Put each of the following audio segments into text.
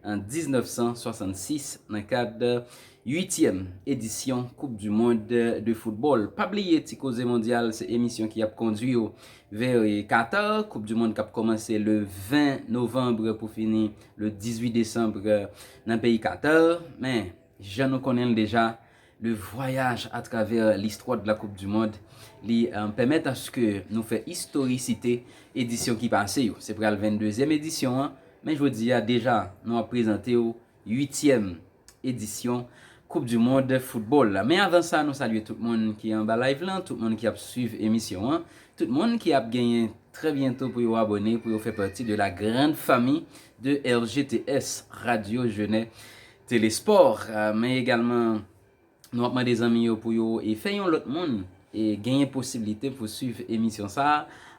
An 1966, nan kad uityèm edisyon koup du mond de foutbòl. Pa bliye Ti Koze Mondyal se emisyon ki ap kondwi w vè Qatar, koup du mond k ap kòmanse le 20 novanbre pou fini le 18 desanbre nan peyi Qatar. Men! Jan nou konnen l deja, le vwayaj a travè listwa de la koup du mond, li pèmèt aske nou fè istorisite edisyon ki pase yo. Se pral 22 zièm edisyon an, men jodi a deja nou ap prezante w 8 tièm edisyon koup du mond foutbòl la. Men avan sa nou salye tout moun ki anba live lan, tout moun ki ap swiv emisyon an, tout moun ki ap genyen trè byento pou yo abòne pou yo fè pati de la grande famille de RGTS, Radio Genève Telesport, men egalman nou ap mande zanmi yo pou yo fè yon lòt moun genyen posiblite pou swiv emisyon sa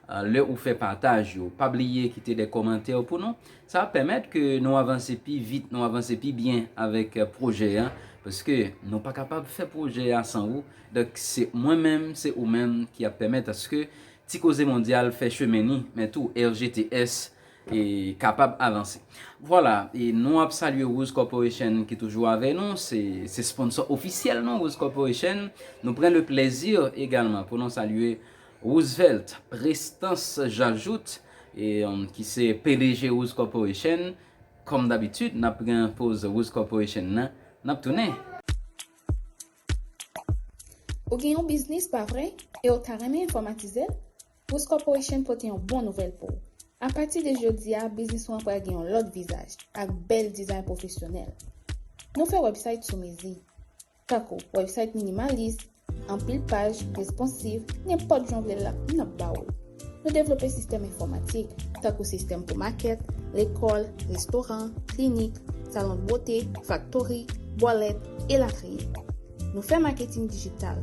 a lè ou fè pataj yo. Pa bliye kite de kòmantè pou nou, sa ap pèmèt ke nou avanse pi vit, nou avanse pi byen avèk pwojè a, paske nou pa kapab fè pwojè a san ou. Donk se mwen menm, se ou menm ki ap pèmèt aske Ti Koze Mondyal fè chemen ni, men tou RGTS. e kapab avanse. Vwala e nou ap salye Rose Corporation ki toujou avè nou, se se sponsor ofisyèl nou Rose Corporation. Nou pran le plèzi egalman pou nou salye Roosevelt Prestans Jajout e ki se pdg Rose Corporation. Kòm dabitid nap pran poz Rose Corporation nan, nap tounen. Ou gen yon biznis pa vre e ou ta renmen enfòmatize l? Woods Corporation pote yon bon nouvèl pou w! A pati de jodi a, biznis ou an pral gen yon lòt vizaj, ak bèl dizay pwofesyonèl. Nou fè wèbsayt sou mezi, tankou wèbsayt minimalis, anpil paj, responsiv, nenpòt jan w vle l la, n ap ba w l. Nou devlope sistèm enfòmatik, tankou sistèm pou makèt, lekòl, restoran, klinik, salon bwote, faktori, bwalèt, elatriye. Nou fè maketing dijital.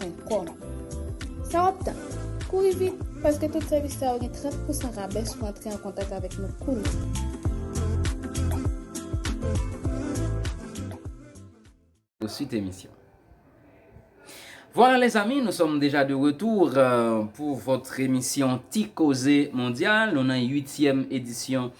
www.eclaircom Sa w ap tann? Kouri vit, paske tout sèvis sa yo gen 30 pousan rabè si w antre an kontak avèk nou kounye. Suite emisyon. Voilà les amis, nous sommes déjà de retour euh, pour votre émission Ti Causé Mondial. Nous dans huitième édition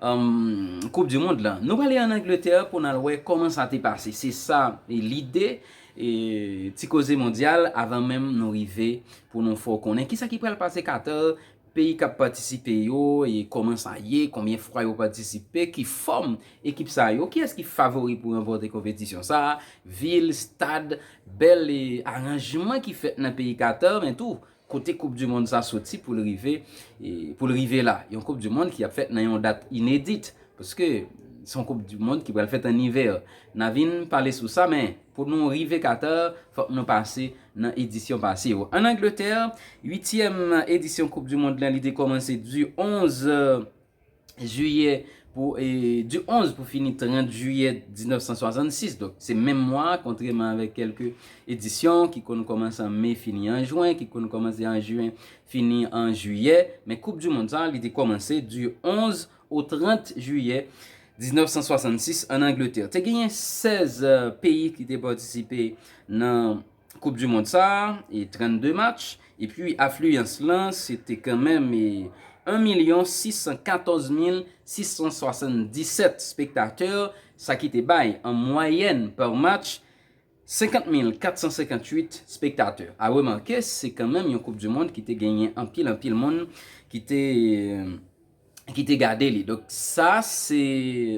um, Coupe du Monde là. Nous allons en Angleterre pour nous voir comment ça t'est passé. C'est ça l'idée. Ti koze mondyal avan menm nou rive pou nou fè w konnen kisa ki pral pase Qatar, peyi kap patisipe yo, kòman sa ye, konbyen fwa yo patisipe, ki fòm ekip sa yo, kiyès ki favori pou ranpòte konpetisyon sa, vil, stad, bèl aranjman ki fèt nan peyi Qatar men tou Kote koup du mond sa soti pou l rive pou l rive la? Yon koup du mond ki ap fèt nan yon dat inedit paske se yon koup du mond ki pral fèt an ivè. Na vin pale sou sa men pou nou rive Qatar fòk nou pase nan edisyon pase yo. An Angleterre, uityèm edisyon koup du mond la li te kòmanse du 11. jiyè pou du 11 pou fini 30 jiyè 1966 donk se menm mwa a kontreman avèk kèlke edisyon ki konn kòmanse an me fini an jwen ki konn kòmanse an jyen fini an jiyè men koup du mond sa li te kòmanse du 11 o 30 jiyè 1966 an angletè te genyen 16 peyi ki te patisipe nan Koup du mond sa, 32 match, epi afliyans lan se te kanmenm 1 milyon 614 mil 677 spektatè, sa ki te bay an mwayèn par match 50 mil 458 spektatè. A remake, se kanmenm yon koup du mond ki te genyen anpil anpil moun ki te. ki te gade li. Donk sa se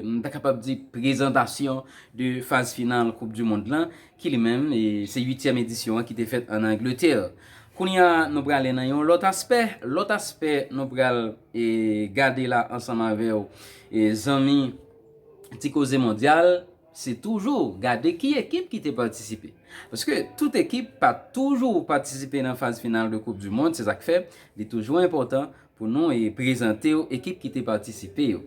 m ta kapab di prezantasyon de faz final koup du mond lan ki li menm se 8 tièm edisyon an ki te fèt an Angletè. Kounya nou prale nan yon lòt aspè, lòt aspè nou pral gade la ansanm avèw zanmi ti koze mondyal se toujou gade ki ekip ki te patisipe. Paske tout ekip pa toujou patisipe nan faz final de koup du mond se sak fè li toujou enpòtan Pou nou e prezante w ekip ki te patisipe yo.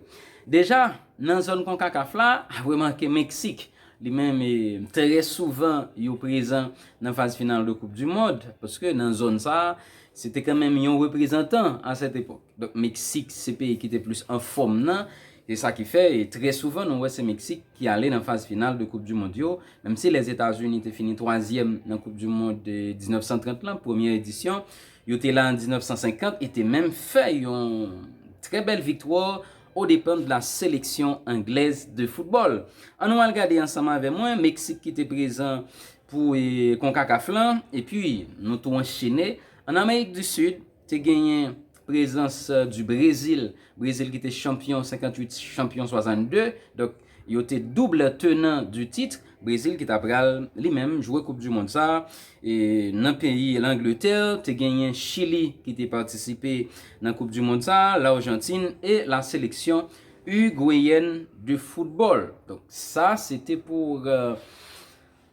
Deja, nan zòn Konkakaf la, apre manke Meksik, li menm e trè souvan yo prezan nan faz final de koup di mond, paske nan zòn sa a, se te kanmenm yon reprezantan a sèt epòk. Donk Meksik se peyi ki te plis an fòm nan, se sa ki fè e trè souvan nou wè se Meksik ki ale nan faz final de koup di mond yo, menm si Lèzetazini te fini twazyèm nan koup di mond 1930 lan, premyè edisyon, Yo te la an 1950 e te menm fè yon trè bèl viktwa o depan de la seleksyon anglèz de foutbòl. An nou al gade ansanm avè mwen Meksik ki te prezan pou Konkakaf lan epi nou tou anchene an Amerik di Sid te genyen prezans di Brezil, Brezil ki te chanpyon 58 chanpyon 62, donk Yo te double tenan du titre, Brezil ki ta pral li menm jwe koup du mond sa. Nan peyi Langletè, te genyen Chili ki te patisipe nan koup du mond sa, Larjantin e la seleksyon Urgweyèn de foutbòl. Donk sa se te pou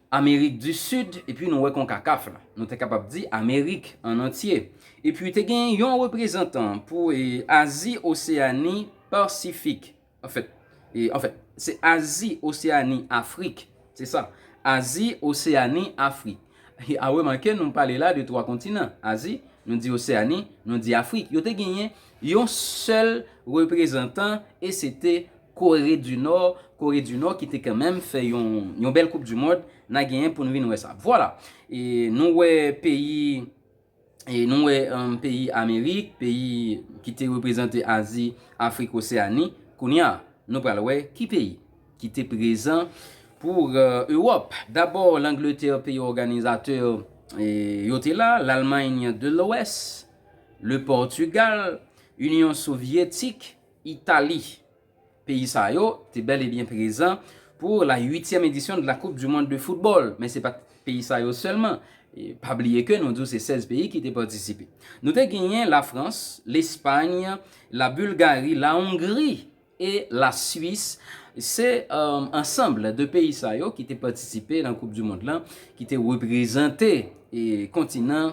Amerik du Sud e pi nou wè Konkakaf la. Nou ta kapab di Amerik an antye. E pi te genyen yon reprezantan pou Azi, Oseyani, Pasifik. Anfèt, anfèt, se Azi, Oseani, Afrik. Se sa. Azi, Oseani, Afrik. A remake nou pale la de twa kontinan. Azi, nou di Oseani, nou di Afrik. Yo te genyen yon sèl reprezantan e se te Kore di Nò, Kore di Nò ki te kanmenm fè yon yon bèl koup di mond, na genyen pou n vin wè sa. Vwala. E nou wè peyi E nou wè peyi Amerik, peyi ki te reprezante Azi, Afrik, Oseani, kounye a, nou pral wè ki peyi ki te prezan pou Ewòp. Dabò, Langletè, peyi òganizatè, yo te la, Lalmany de Lwès, Le Pòtigal, Inyon Sovyetik, Itali. Peyi sa yo te bèl e byen prezan pou la uityèm edisyon de la koup du mond de foutbòl, men se pat peyi sa yo sèlman, pa bliye ke nou di w se 16 peyi ki te patisipe. Nou te genyen la Frans, Lespagn, la Bulgari, la Ongri e la Suis, se ansanbl de peyi sa yo ki te patisipe nan koup du mond lan, ki te reprezante kontinan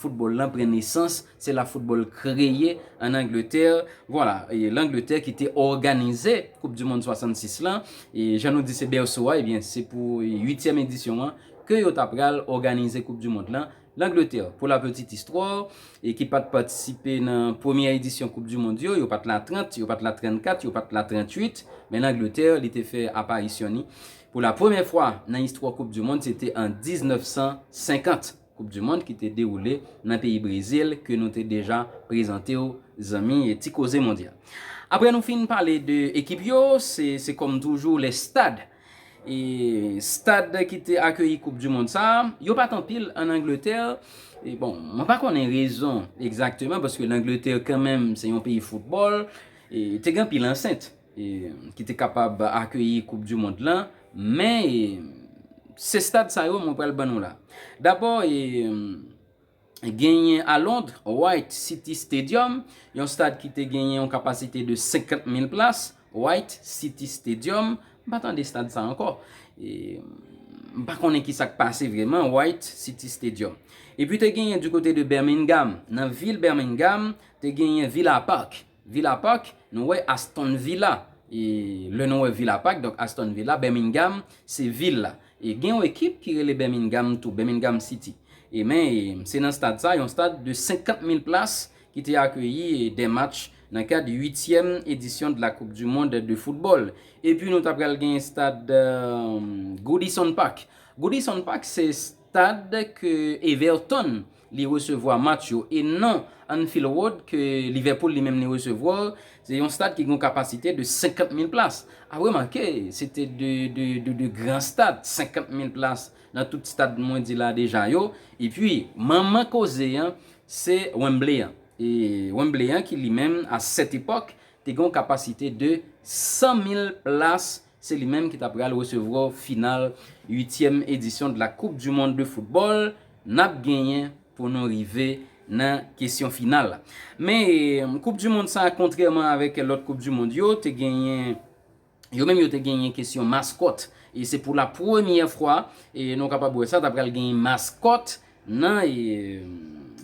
Football lan pran nesans, se la football kreye an Angletè, vwala, e Langletè ki te òganize koup di mond 66 lan, e jan nou di se bèso a, ebyen se pou uityèm edisyon an ke yo ta pral òganize koup di mond lan, Langletè, pou la petite histoire, e ki pat patisipe nan premyè edisyon koup di mond yo, yo pat la 30, yo pat la 34, yo pat la 38, men Langletè li te fè aparisyon ni pou la premyè fwa nan istwa koup di mond se te an 1950. Koup du mond ki te dewoule nan peyi Brezil ke nou te deja prezante w zanmi ti koze mondyal. Aprè nou fin pale de ekip yo, se se kòm toujou les stades. E stad ki te akeyi koup du mond sa, yo pa t anpil an Angletè, e bon mwen pa konnen rezon egzakteman paske Langletè kanmenm se yon peyi foutbòl, e te gen anpil ansent. ki te kapab akeyi koup du mond lan, men se stad sa yo mwen pral ban nou la. Dabò genyen a Lond, White City Stadium, yon stad ki te genyen yon kapasite de 50 mil plas, White City Stadium, m pa tande stad sa ankò, m pa konnen ki sa k pase vreman, White City Stadium. Epi te genyen du kote de Birmingham, nan vil Birmingham, te genyen Villa Park, Villa Park, nou wè Aston Villa. E lè nou wè Villa Park, donk Aston Villa, Birmingham, se vil la. E gen yon ekip ki rele Birmingham tou, Birmingham City. E men, se nan stad sa, yon stad de 50 mil plas, ki te akeyi 2 match nan kad uityèm edisyon de la koup du mond de foutbòl. E pi nou ta pral gen stad Goodison Park. Goodison Park se stad ke Everton Li resevwa match yo e nan Anfield Road ke Liverpool li menm li resevwa l, se yon stad ki gen yon kapasite de 50 mil plas. A remake, se te 2 de gran stad, 50 mil plas nan tout stad mwen di la deja yo. E pi, manman koze an, se Wembley an. E Wembley an ki li menm a sèt epòk te gen yon kapasite de 100 mil plas Se li menm ki ta pral resevwa final uityèm edisyon de la koup du mond de football nap genyen pou nou rive nan kesyon final la. Men koup du mond sa kontrèman avèk lòt koup du mond yo te genyen yo menm yo te genyen kesyon maskòt e se pou la premyè fwa nou kapab wè sa ta pral genyen maskòt Nan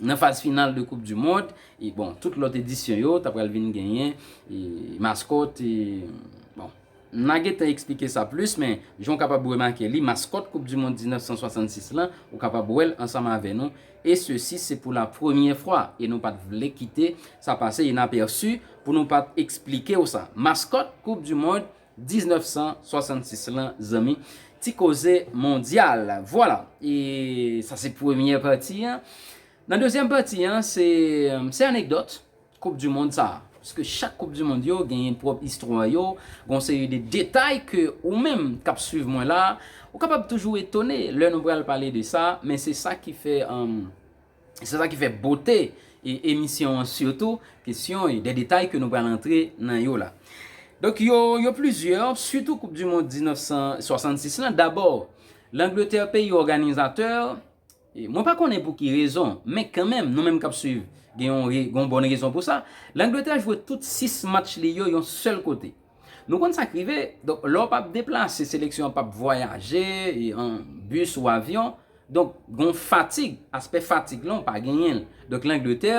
nan faz final de koup du mond e bon tout lòt edisyon yo ta pral vin genyen e maskòt e bon na gentan eksplike sa plis men jan w kapab remake li maskòt koup du mond 1966 lan ou kapab wè l ansanm avè nou e sesi se pou la premyè fwa e nou pat vle kite sa pase inapèsi pou nou pat eksplike w sa maskòt koup du mond 1966 lan zanmi ti koze mondyal vwala e sa se premyè pati an nan dezyèm pati an se se anekdòt koup di mond sa paske chak koup di mond yo genyen pwòp istwa yo gon seri de detay ke ou menm kap swiv mwen la ou kapab toujou etone lè nou pral pale de sa men se sa ki fè Se sa ki fè bote emisyon an sitou kesyon yo, de detay ke nou pral antre nan yo la. Donk yo, yo plizyè, sitou koup du mond 1966 lan, dabò Langletè peyi òganizatè, mwen pa konnen pou ki rezon, men kanmenm nou menm k ap swiv gen yon bon rezon pou sa, Langletè jwe tout 6 match li yo yon sèl kote. Nou konn sa k rive, donk lè w pa p deplase, seleksyon an pa p vwayaje, an bis ou avyon, donk gon fatig, aspè fatig lan w pa genyen l. Donk Langletè,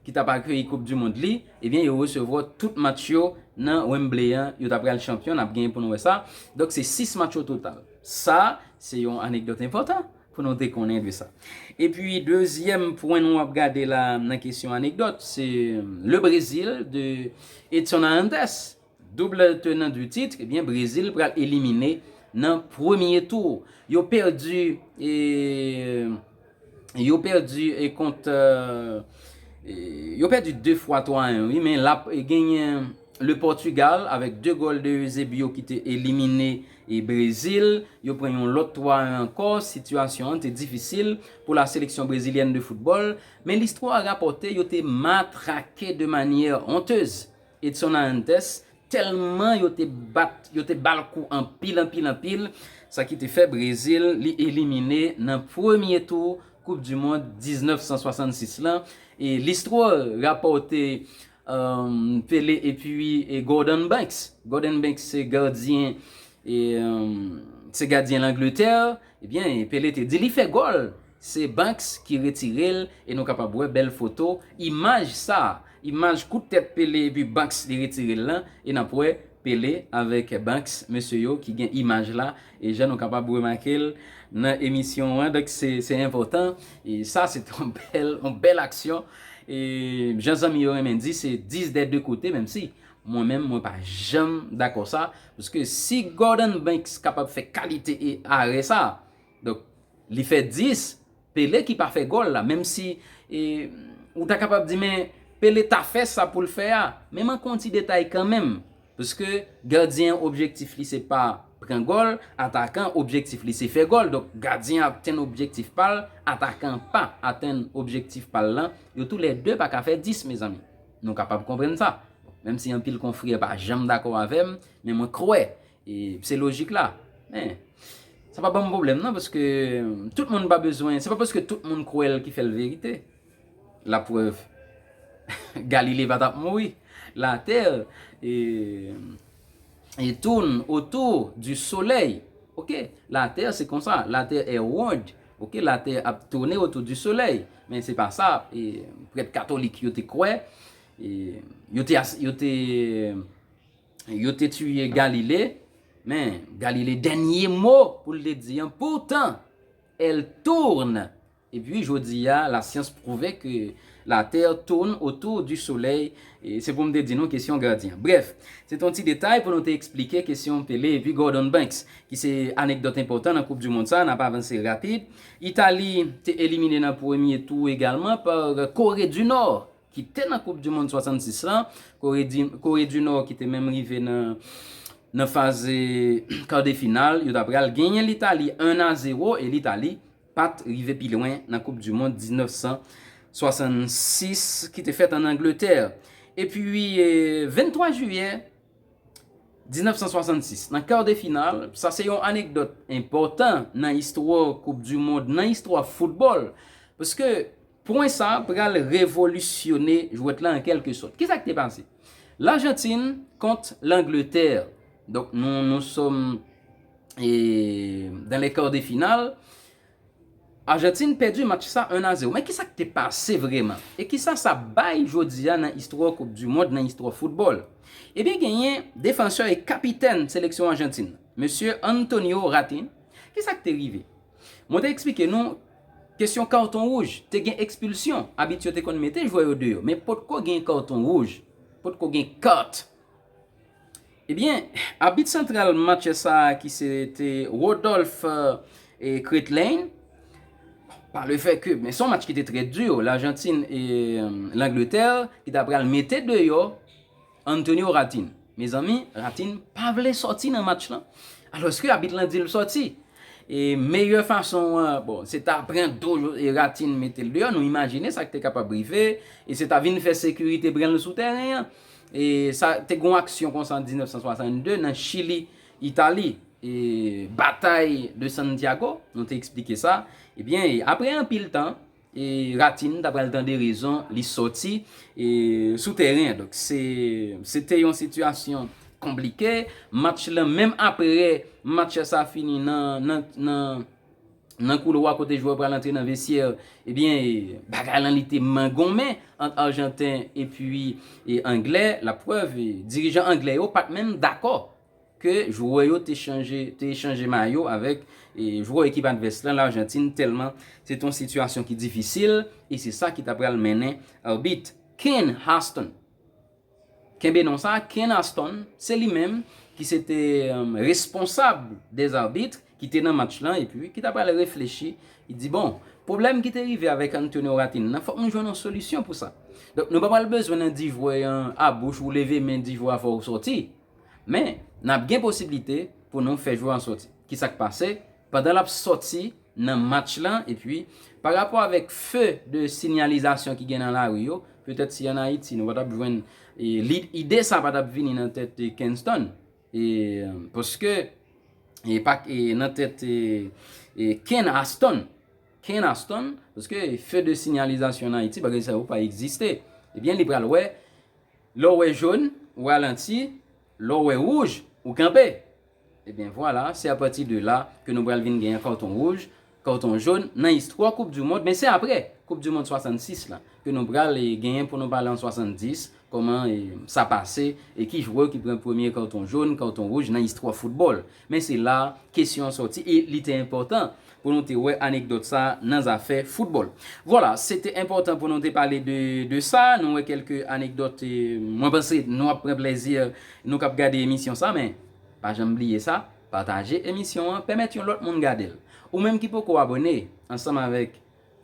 ki t ap akeyi koup di mond li, ebyen yo resevwa tout match yo nan Wembley an, yo ta pral chanpyon, n ap gen pou nou wè sa, donk se 6 match ototal. Sa, se yon anekdòt enpòtan. Pou nou te konnen de sa. E pi dezyèm pwen nou ap gade la nan kesyon anekdòt, se Le Brésil de Edson Arantes. Double tenant du titre, e byen Brezil pral elimine nan premye tou. Yo pèdi e yo pèdi e kont yo pèdi 2 fwa 3 a 1 wi men lap genyen Le Portugal avèk 2 gòl de Eusebio ki te elimine E Brezil, yo pran yon lòt 3 1 ankò, sitiyasyon an te difisil pou la seleksyon brezilyèn de foutbòl, men listwa a rapòte yo te matrake de manyè hontez Edson Arantes tèlman yo te bat yo te ba l kou anpil anpil anpil, sa ki te fè Brezil li elimine nan premye tou koup du mond 1966 lan e listwa rapòte Pele epi Gordon Banks. Gordon Banks se gadyen se gadyen Langletè, ebyen Pele te di li fè gòl, se Banks ki retire l e nou kapab wè bèl foto, imaj sa, imaj kout tèt Pele epi Banks li retire l lan e n ap wè Pele avèk Banks mesye yo ki gen imaj la E jan nou kapab remake l nan emisyon an, donk se enpòtan. E sa se te yon bèl, yon bèl aksyon. E jan zanmi yo renmen di, se 10 dè 2 kote, menm si mwen menm mwen pa janm dakò sa. Paske si Gordon Banks kapab fè kalite e arè sa, donk li fè 10. Pele ki pa fè gòl la menm si ou ta kapab di men Pele ta fè sa poul fè a men man kon ti detay kanmenm pske gadyen an objektif li se pa pran gòl atakan an objektif li se fè gòl donk gadyen an ap tenn objektif pal atakan an pa atenn objektif pal lan yo tou lè 2 pa ka fè 10 mezanmi nou kapab konprann sa menm si anpil konfrè pa janm dakò avèm men mwen kwè E se lojik la. Men, sa pa banm pwoblèm nan paske tout moun pa bezwen, se pa paske tout moun kwè l ki fè l verite. La prèv, Galile pa t ap mouri. Latè e tourne autour du soleil. Ok, latè se konsa, latè est ronde. Ok, latè ap tourne autour du soleil. Men se pa sa prèt katolik yo te kwè. Yo te, yo te, Yo te tiye Galile, men Galile dènye mo pou l te di an, poutan el tourn e pi jodi a la syans prouve ke la tè tourn otou di solèy, se pou m te di nou kesyon gadyen. Brèf, se te yon ti detay pou nou te eksplike kesyon Pele e pi Gordon Banks ki se anekdòt enpòtan nan koup di mond sa, n ap avanse rapid. Itali te elimine nan premye tou egalman pa Kore di Nò. ki te nan koup du mond 66 lan, kore di kore du nò ki te menm rive nan nan faz kade final, yo ta pral genyen litali 1 a 0 e litali pat rive pi lwen nan koup du mond 1966 ki te fèt an angletè e pi 23 jiyè 1966 nan kar de final, sa se yon anekdòt enpòtan nan istwa koup du mond nan istwa foutbòl, paske. Pwen sa a pral revolisyone jwèt la an kèlke sòt. Ki sa k te pase? Lajantin kont Langletè, donk nou nous sommes dans les quarts de finale, Ajantin pèdi match sa 1 a 0. Men ki sa k te pase vrèman? E ki sa sa bay jodi a nan istwa koupdimond, nan istwa foutbòl? Ebyen genyen defansè e kapitèn seleksyon Ajantin, mesye Antonio Ratin. Ki sa k te rive? Mwen te eksplike nou kesyon karton wouj, te gen ekspilsyon, abit yo te konn mete jwè yo deyò, men potko gen karton wouj, potko gen kat. Ebyen, abit santral match sa a ki se te Rodolphe Kretlein, pa le fè ke, men son match ki te trè di, Lajantin e Langletè ki ta pral mete deyò, Antonio Ratin, Mezanmi, Ratin pa vle sòti nan match lan, alòske abit lan di l sòti. E meyè fason an, bon, se ta pran do Ratin mete l deyò, nou imajine sa k te kapab rive, e se ta vin fè sekirite pran l sou tèren an. E sa, te gen yon aksyon konsa an 1962 nan Chili, Itali, e Batay de Santiago, nou te eksplike sa. Ebyen, apre anpil tan, E Ratin ta pral tande rezon li soti sou tèren an. Donk se te yon sitiyasyon konplike. Match lan menm apre match sa fini nan koulwa kote jwè pral antre nan vesyè. Ebyen bagay lan li te mangonmen ant Arjanten epi Angle. Laprèv dirijan Angle yo pat menm dakò. ke jwè yo te chanje te echanje mayo avèk jwè ekip advès lan Larjantin tèlman se te yon sitiyasyon ki difisil e se sa ki ta pral mennen Arbit Ken Aston kenbe non sa Ken Aston se li menm ki se te responsab des arbitres ki te nan match lan epi ki ta pral reflechi li di bon pwoblèm ki te rive avèk Antonio Ratin nan fòk nou jwenn yon solisyon pou sa donk nou pa pral bezwen nan di jwè an a bouch ou leve men di jwè a fò ou sòti. Men, n ap gen posiblite pou nou fè jwè an sòti. Ki sa k pase? Pandan l ap sòti nan match lan, epi, pa rapò avèk feu de sinyalizasyon ki gen nan lari yo, petèt si ann Ayiti nou pa t ap jwenn lid, ide sa a pa t ap vini nan tèt Kenston. E, paske, e pa e nan tèt e Ken Aston. Ken Aston, paske feu de sinyalizasyon ann Ayiti, bagay sa yo pa egziste. Ebyen, li pral wè. Lè w wè jone, ou ralanti, lè w wè wouj, ou kanpe. Ebyen vwala, se apati de la ke nou pral vin genyen karton wouj, karton jone nan istwa koup du mond, men se apre koup du mond 66 la ke nou pral genyen pou nou pale an 70 kòman sa pase e ki jwè ki pran premye karton jone, karton wouj nan istwa foutbòl. Men se la a kesyon an sòti e li te enpòtan pou nou te wè anekdòt sa a nan zafè foutbòl. Vwala, se te enpòtan pou nou te pale de de sa, nou wè kèlke anekdòt e mwen panse nou ap pran plèzi nou k ap gade emisyon sa a men pa janm bliye sa, pataje emisyon an, pèmèt yon lòt moun gade l. Ou menm ki poko abòne ansanm avèk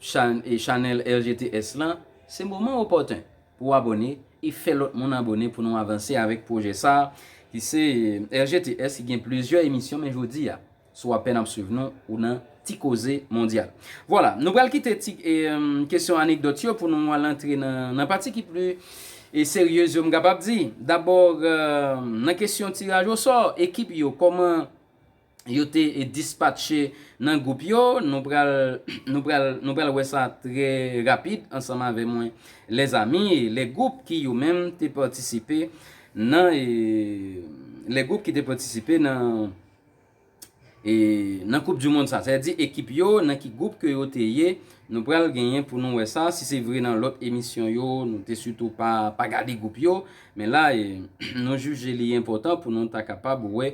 chan chanèl RGTS lan, se moman opòten Ou abone e fè lòt moun abone pou nou avanse avèk pwojè sa ki se RGTS ki gen plizyè emisyon men jodi a si w apèn ap swiv nou ou nan Ti Koze Mondyal. Vwala, nou pral kite ti kesyon anekdòt yo pou nou al antre nan pati ki pli seryez yo m kapab di. Dabò nan kesyon tiraj osò ekip yo kòman. yo te dispatche nan gwoup yo, nou pral, nou pral, nou pral wè sa trè rapid ansanm avè mwen lèzami, lè gwoup ki yo menm te patisipe nan e, lè gwoup ki te patisipe nan e, nan koup du mond sa, sa vle di ekip yo nan ki gwoup ke yo te ye, nou pral genyen pou nou wè sa, si se vre nan lòt emisyon yo nou te sitou pa, pa gade gwoup yo, men la e, nou jije li enpòtan pou nou ta kapab wè.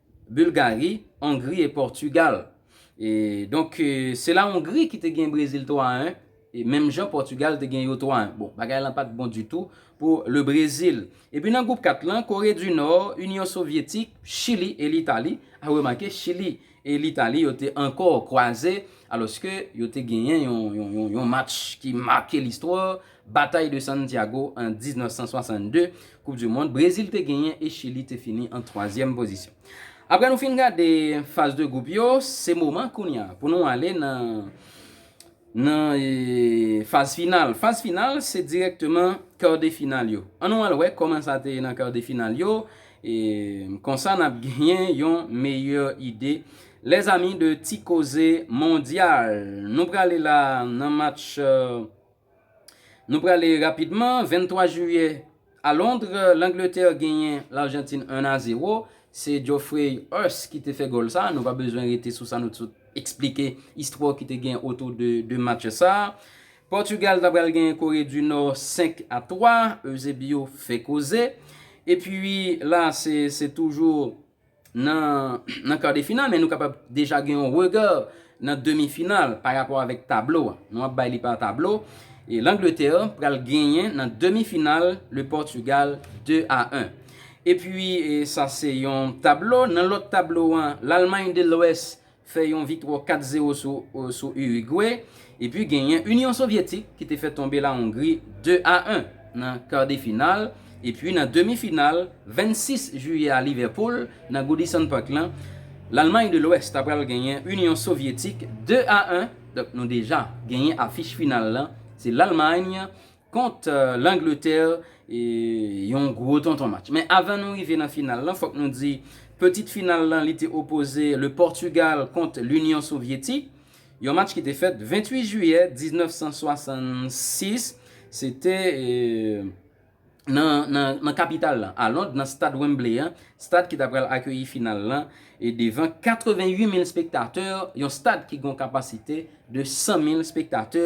Bulgari, Ongri e Pòtugal. E donk se la Ongri ki te gen Brezil 3 a 1, e menm jan Pòtugal te gen yo 3 a 1. Bon, bagay lan pa t bon ditou pou Le Brezil. Epi nan gwoup 4 lan, Kore di Nò, Inyon Sovyetik, Chili e Litali. A remake, Chili e Litali yo te ankò kwaze, alòske yo te genyen yon match ki make listwa Batay de Santiago an 1962, koup du mond, Brezil te genyen e Chili te fini an twazyèm pozisyon. Aprè nou fin gade faz de gwoup yo, se moman kounya pou nou ale nan nan faz final. Faz final se dirèkteman kar de final yo. An nou al wè kòman sa te ye nan kar de final yo, e konsa nap genyen yon meyè ide les amis de Ti Koze Mondyal. Nou prale la nan match. Nou prale rapidman, 23 jiyè, a Londres, Langletè genyen Larjantin 1 a 0, se Geoffrey Huss ki te fè gòl sa a, nou pa bezwen rete sou sa nou sot esplike istwa ki te gen otou de match sa a. Portugal ta pral genyen Corée du Nord 5 a 3, Eusebio fè koze. Epi la se toujou. nan kar de final men nou kapab deja gen yon rega nan demi final pa rapò avèk tablo a. Nou ap bay li pa tablo. E Langletè pral genyen nan demi final le Pòtugal 2 a 1. E pi sa se yon tablo. Nan lòt tablo an, Lalmay de Lwès fè yon viktwa 4 zero sou Urigwe, epi genyen Inyon Sovyetik ki te fè tonbe La Ongri 2 a 1 nan kadefinal, epi nan demi final 26 jiyè a Livèpoul nan Goodison Park lan, Lalmay de Lwès ta pral genyen Inyon Sovyetik 2 a 1, donk nou deja genyen afich final lan, se Lalmay. kont Langletè yon gwo tonton match. Men avan nou rive nan final lan fòk nou di petit final lan li te opoze Le Portugal kont L'Union Sovyetik, yon match ki te fèt 28 jiyè 1966, se te nan kapital lan, a Lond nan stad Wembley an, stad ki ta pral akeyi final lan e devan 88 mil spektatè, yon stad ki gon kapasite de 100 mil spektatè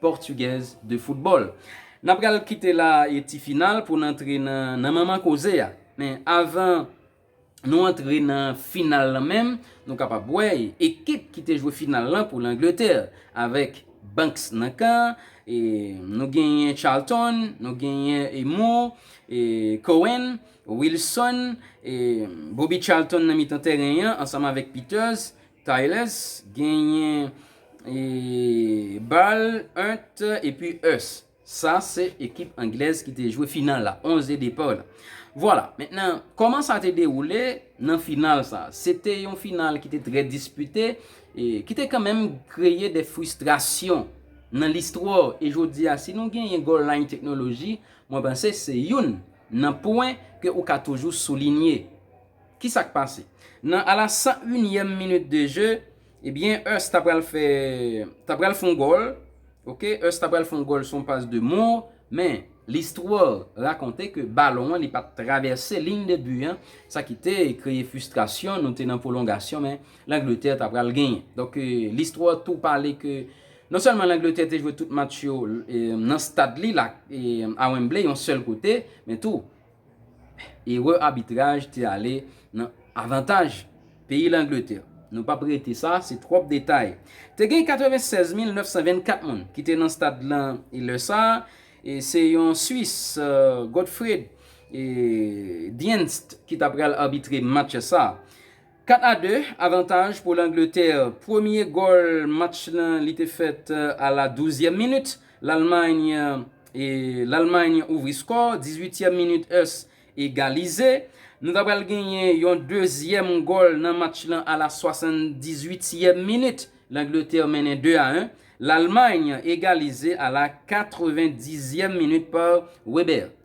Portuguese de football. Nan pral kite la e ti final pou n antre nan nan manman koze a. Men avan Nou antre nan final lan menm Nou kapab wè ekip ki te jwe final lan pou L'Angleterre avèk Banks nan kan e Nou genyen Charlton Nou genyen e Moore e Cohen Wilson e Bobby Charlton nan mitan tèren an ansanm avèk Peters Tayles genyen bal ent epi us sa se ekip anglèz ki te jwe final la 11 de depart la vwala mentnan koman sa te dewoule nan final sa se te yon final ki te trè dispite ki te kanmenm kreye de fristrasyon nan listwa e jodi a si nou genyen goal line teknoloji mwen panse se youn nan pwen ke ou ka toujou soulinye. Ki sa k pase? Nan a la 101 yèm minit de je, ebyen Hurst ta pral fè, ta pral fè yon gòl, ok, Hurst ta pral fè yon gòl sou yon pas de Moore, men l'histoire raconte ke balon an li pa t travèse ligne de but an, sa ki te kreye frustration, nou te nan pwolongasyon men L'Angleterre ta pral genyen. Donk l'histoire tou pale ke non sèlman L'Angleterre te jwe tout match yo nan stad li la, a Wembley, yon sèl kote, men tou Erè abitraj te ale nan avantaj peyi Langletè. Nou p ap rete sa, se twòp detay. Te gen 96 mil 924 moun ki te nan stad lan lè sa a, e se yon Swis, Godfried Dienst ki ta pral abitre match sa a. 4 a 2 avantaj pou Langletè. Premye gòl match lan li te fèt a la douzyèm minit, Lalmay Lalmay ouvri skò, dizuityèm minit us egalize. Nou ta pral genyen yon dezyèm gòl nan match lan a la swasandizuityèm minit, Langletè mennen 2 a 1, Lalmay egalize a la katrevendizyèm minit pa Weber.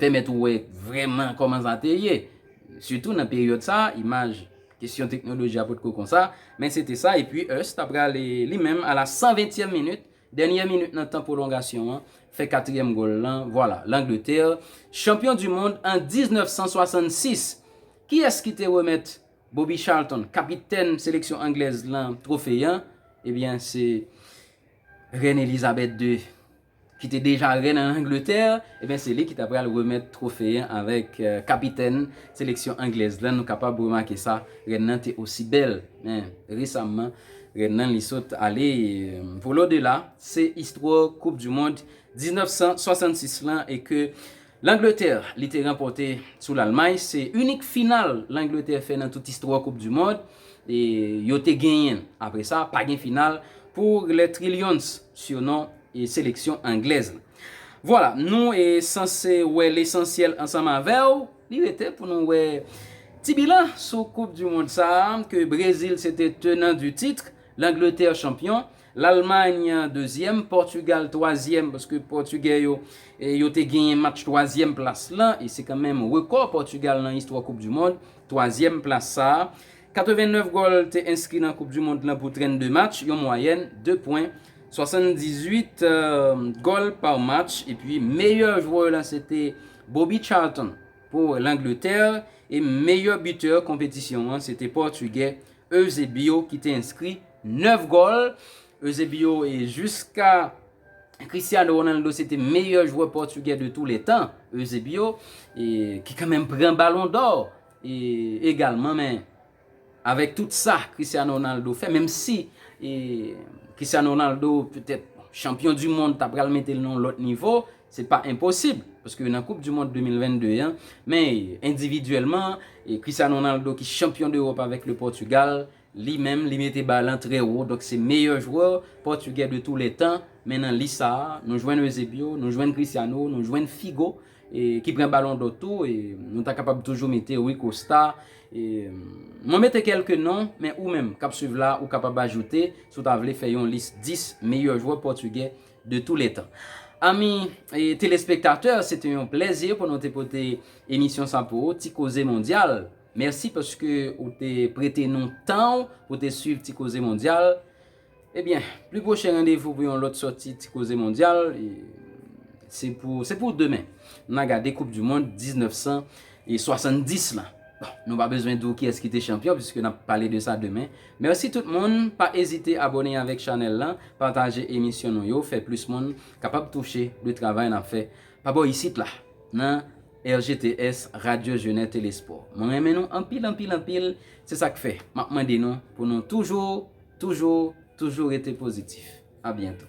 pèmèt ou wè vrèman kòman sa te ye. Sitou nan peryòd sa, imaj, kesyon teknoloji a potko konsa, men se te sa epi Hurst ta pral li menm a la san ventyèm minit, dènyè minit nan tan pwolongasyon an, fè katriyèm gòl lan, vwala, Langletè, chanpyon di mond an 1966! Kiyès ki te remèt Bobby Charlton, kapitèn seleksyon anglèz lan, twofe an? Ebyen se Rèn Elizabèt ii ki te deja rèn an Angletè, ebyen se li ki ta pral remèt twofe an avèk kapitèn seleksyon anglèz lan, nou kapab remake sa, rèn nan te osi bèl, men resamman rèn nan li sot ale vole odela, se istwa koup du mond 1966 lan e ke Langletè li te ranpòte sou Lalmay se inik final Langletè fè nan tout istwa koup di mond yo te genyen. Apre sa pa gen final pou Les Trillions sinon seleksyon anglèz la. Vwala nou sanse wè lesansyèl ansanm avèw. Li rete pou nou wè ti bilan sou koup di mond sa ke Brezil se te tenan di titre, Langletè chanpyon, Lalmany dezyèm, Pòtugal twazyèm paske pòtugè yo yo te genyen match twazyèm plas lan e se kanmenm rekò pòtugal nan istwa koup du mond twazyèm plas sa. 89 gòl te enskri nan koup du mond lan pou 32 match yon mwayèn 2 pwen 78 gòl pa match epi meyè jwè lan se te Bobby Charlton pou langletè e meyè bitè konpetisyon an se te pòtugè Eusebio ki te enskri 9 gòl. Eusebio e jiska Cristiano Ronaldo se te meyè jwè pòtugè de tou le tan. Eusebio e ki kanmenm pran balon dò e egalman men avèk tout sa Cristiano Ronaldo fè menm si e Cristiano Ronaldo petèt chanpyon di mond ta pral mete l nan yon lòt nivo Se pa enposib, paske nan koup dimond 2022 an, men endividyèlman, Cristiano Ronaldo ki chanpyon dEròp avèk le Pòtugal, li menm li mete ba lan trè wo, donk se meyè jwè pòtugè de tou lè tan, men nan lis sa a, nou jwenn Eusebio, nou jwenn Cristiano, nou jwenn Figo, ki pran balon dò tou, nou ta kapab toujou mete Rui Costa, mwen mete kèlke non, men ou menm k ap swiv la, ou kapab ajoute, si w ta vle fè yon lis 10 meyè jwè pòtugè, de tou lè tan. Ami telespektatè se te yon plèzi pou nou te pote emisyon sa pou ou, Ti Koze Mondyal. Mèsi paske ou te prete nou tan ou pou te swiv Ti Koze Mondyal. Ebyen, pli pwochen randevou pou yon lòt sòti Ti Koze Mondyal, se pou demen. Nan gade koup du mond 19. E 70 lan. Bon, nou pa bezwen di w kiyès ki te chanpyon piske n ap pale de sa demen. Mèsi tout moun, pa ezite abone avèk chanèl lan, pataje emisyon nou yo, fè plis moun kapab touche de travay n ap fè pa bò isit la nan RGTS, Radyo Jenè Telespò. Mwen renmen nou anpil anpil anpil, se sa k fè m ap mande nou pou nou toujou, toujou, toujou rete pozitif. A byento.